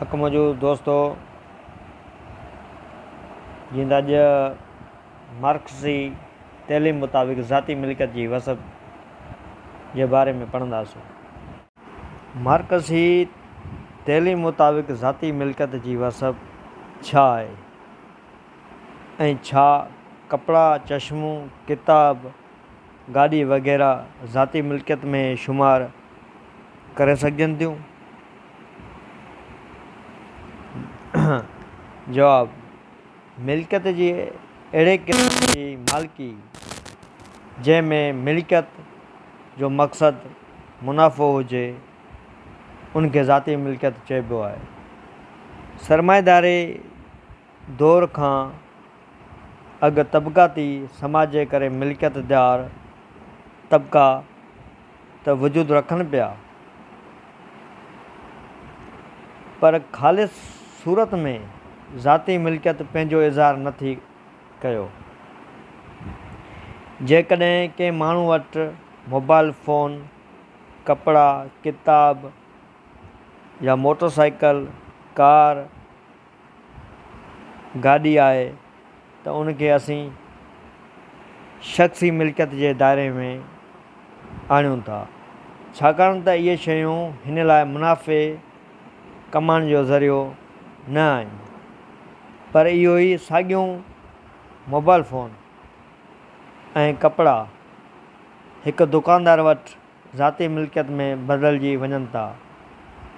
اک منهنجو دوستو جيئن ته اڄ مارڪسي تعليم مطابق ذاتي ملڪيت جي وسعت جي باري ۾ پڙهنداسون. مارڪسي تعليم مطابق ذاتي ملڪيت جي وسعت ڇا آهي ۽ ڇا ڪپڙا، چشمون، ڪتاب، گاڏي وغيره ذاتي ملڪيت ۾ شمار ڪري سگهجن ٿيون؟ جواب، ملڪيت جي اهڙي قسم جي مالڪي جنهن ۾ ملڪيت جو مقصد منافعو هجي ان کي ذاتي ملڪيت چئبو آهي. سرمائيداري دور کان اڳ طبقاتي سماج جي ڪري ملڪيت دار طبقا ته وجود رکن پيا پر خالص صورت ۾ ذاتي ملڪيت پنهنجو اظهار نه ٿي ڪيو. جيڪڏهن ڪنهن ماڻهو وٽ موبائل فون، ڪپڙا، ڪتاب يا موٽر سائيڪل، ڪار، گاڏي آهي ته ان کي اسين شخصي ملڪيت جي دائري ۾ آڻيون ٿا ڇاڪاڻ ته اهي شيون هن لاء منافعي ڪمائڻ جو ذريعو نه آهن پر اهو ئي ساڳيون موبائل فون ۽ ڪپڙا هڪ دڪاندار وٽ ذاتي ملڪيت ۾ بدلجي وڃن ٿا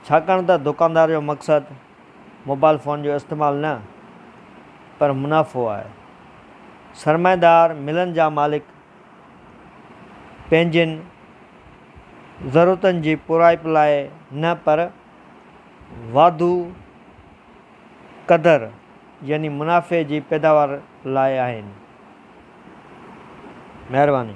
ڇاڪاڻ ته دڪاندار جو مقصد موبائل فون جو استعمال نه پر منافعو آهي. سرمائيدار ملن جا مالڪ پنهنجين ضرورتن جي پورائپ لاء نه پر واڌو قدر يعني منافعي جي پيداوار لاء آهن. مهرباني.